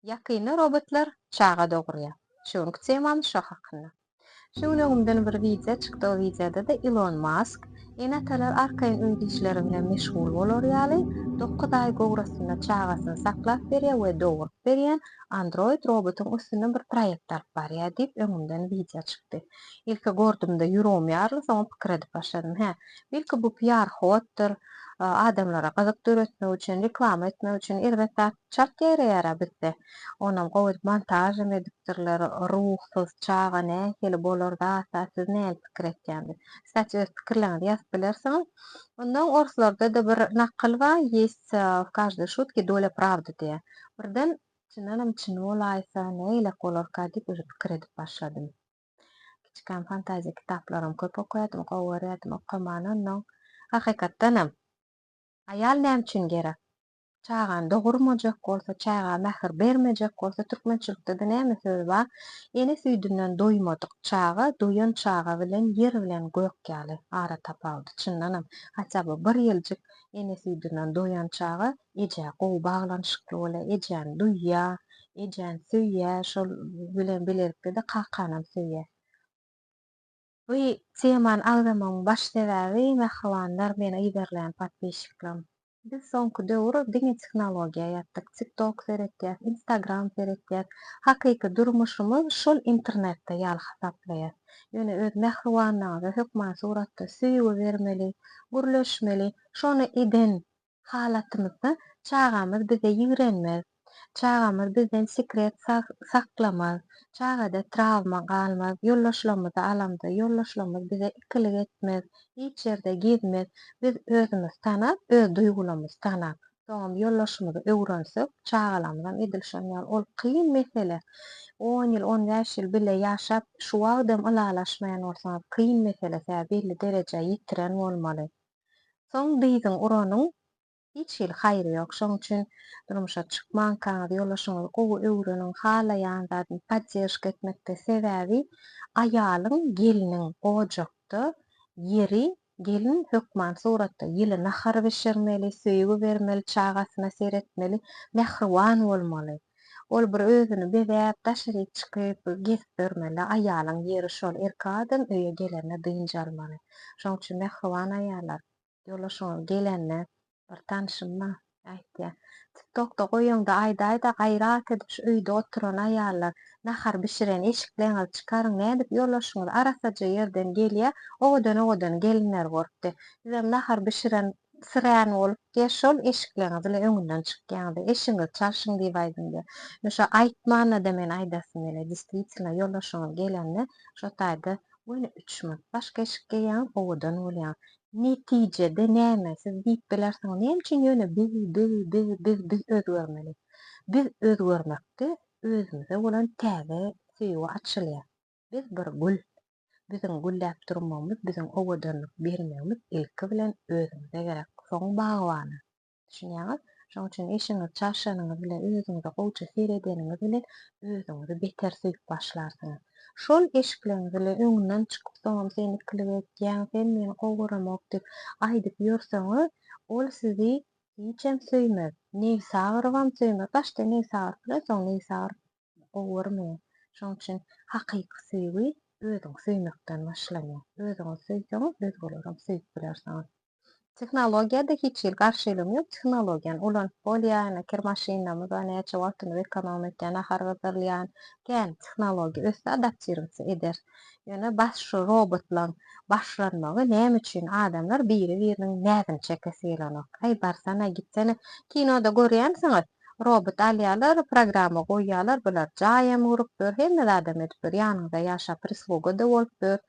Ýakynda robotlar çaga dogurýar. Şu günki temamyz şo hakynda. Şu gün öňümden bir wideo çykdy o wideodada Ilon Mask Ene-atalar arkaýyn öýde işleri bilen meşgul bolar ýaly dokuz aý gowrasynda çagasyny saklap berýän we doguryp berýän Android robotyň üstünden bir proýekt alyp barýar diýip öňümden wideo çykdy. Ilki gordumda ýuregim ýaryldy soňam pikir edip başladym hä belki bu piar hoddyr adamlara gyzyk döretmek üçin reklama etmek üçin erbet zat Çalt ýereýärä bizde. Onam gowy montažam edipdirler. Ruhsuz çaga nähili bolar zatda siz näme pikir etýänsiz? Kstati öz pikirleriňizi ýazyp bilersiňiz. Ondan orslarda-da bir nakyl bar, Ýest w každoj şutki dolýa prawdy diýýär. Birden çyndanam çyn bolaýsa nägilek bolarka diýip uje pikir edip başladym. Kiçikäm fantaziýa kitaplaram köp okaýardym, gowy görýärdim okamany onnoň. Hakykatdanam. Aýal näme üçin gerek? Çagany dogurmajak bolsa, çaga mähir bermejek bolsa, türkmençilikde-de näme söz bar? Ene süýdünden doýmadyk çaga, doýan çaga bilen ýer bilen gök ýaly ara tapawudy. Çyndanam, haçan bu bir ýyljyk ene süýdünden doýan çaga ejä gowy baglanyşykly bolýar, ejäni duýýar, ejäni söýýär, şol bilen bilelikde-de kakanam söýýär. Bu temany agzamagymyň baş sebäbi mähribanlar meni yzarlaýan podpisçiklerim. Biz soňky döwür diňe tehnologiýa ýatdyk, tiktok seretýäs, instagram seretýäs, hakyky durmuşymyz şol internetde ýaly hasaplaýas. Ýöne öz mähribanlaryňyza hökman suratda söýgi bermeli, gürleşmeli, şony eden halatymyzda çagamyz bize ýigrenmez, çagamyz bizden sekret saklamaz, çagada trawma galmaz, ýoldaşlarymyzy alamda ýoldaşlarymyz bize ikilik etmez, hiç ýerde gezmez. Biz özümizi tanap, öz duýgularymyzy tanap, soňam ýoldaşymyzy öwrensek, çagalarymyzam edil şonuň ýaly. Ol kyn mesele. On ýyl, on bäş ýyl bile ýaşap, şu wagtam ylalaşmaýan bolsaňyz, kyn mesele sebäbi belli derejä ýetiren bolmaly. Soň dyzyň uranyň hiç hili haýry ýok. Şoň üçin durmuşa çykmankaňyz ýoldaşyňyzy gowy öwreniň, halaýan zadyny podderžka etmekde sebäbi aýalyň, gelniň ojakda ýeri gelin hökman suratda ýyly nahar bişirmeli, söýgi bermeli, çagasyna seretmeli, mähriban bolmaly. Ol bir özüni bezäp, daşaryk çykyp, gezip ýörmeli. Aýalyň ýeri şol. Erkek adam öýe gelende dynç almaly. Şoň üçin mähriban aýallar, ýoldaşyňyz gelende bir tanşym bar, aýtýar, Tiktokda goýuňda aýdaýda gaýrat edip şu öýde oturan aýallar, nahar bişiren eşikleňizi çykaryň nädip ýoldaşyňyz arasaja ýerden gelýär, owadan owadan gelinler görüpdi. Sizem nahar bişiren Sirän bolup diýe şol eşikleňiziň öňünden çykýaňyzda eşiňizi çalşyň diýip aýdyň diýe. Men şo aýtmanda-da men aýdasym gelýär. Diswitilna ýoldaşyňyz gelende şo taýda göni üç minut başga eşik geýýäňiz owadan bolýaňyz. Netijede näme siz diýip bilersiňiz näme üçin ýöne biz biz biz biz biz özgermeli. Biz özgermekde özümize bolan täze söýgi açylýar. Biz bir gül. Biziň gülläp durmagymyz, biziň owadanlyk bermegimiz ilki bilen özümize gerek, soň bagbana. Düşünýäňiz? Şonuň üçin eşigiňizi çarşanyňyz bilen, özüňize gowuça seredeniňiz bilen özüňizi beter söýüp başlarsyňyz. Şol eşikleňiz bilen öňünden çykyp, soňam sen ikilik etýäň, sen meni gowy göremok diýip aýdyp ýörseňiz, ol sizi hiçem söýmez. Nebsi agyrybam söýmez. Başda nebsi agyryp biler, soň nebsi agyryp Gowurmy? Şoň üçin hakyky söýgi özüňi söýmekden başlanýar. Özüňi söýseň, özgelerim söýüp biler saňa. Tehnologiýada hiç hili garşylygyň ýok, tehnologiýany ulanyp bolýar, ine kir maşynlarymyz näçe wagtymyzy ekonom etýär, nahar gyzdyrylýan, kän tehnologiýa össe adaptirowatsi ederis. Ýöne bas şu robotlaň başlanmagy näme üçin adamlar biri biriniň näzini çekesi gelenok. Aý barsana gitsene kinoda görýänsiňiz Robot alýalar, programma goýýalar, bular jaýam gurupdyr, hemme zadam edipdir, ýanyňyzda ýaşap prisluga-da bolupdyr.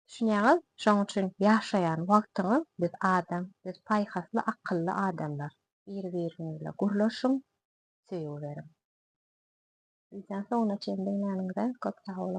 Düşünýäňiz? Şoň üçin ýaşaýan wagtyňyz biz adam, biz paýhasly, akylly adamlar. Biri-biriňizle gurlaşyň, söýgü beriň. Widýony soňuna çenli diňläniňize köp sag boluň.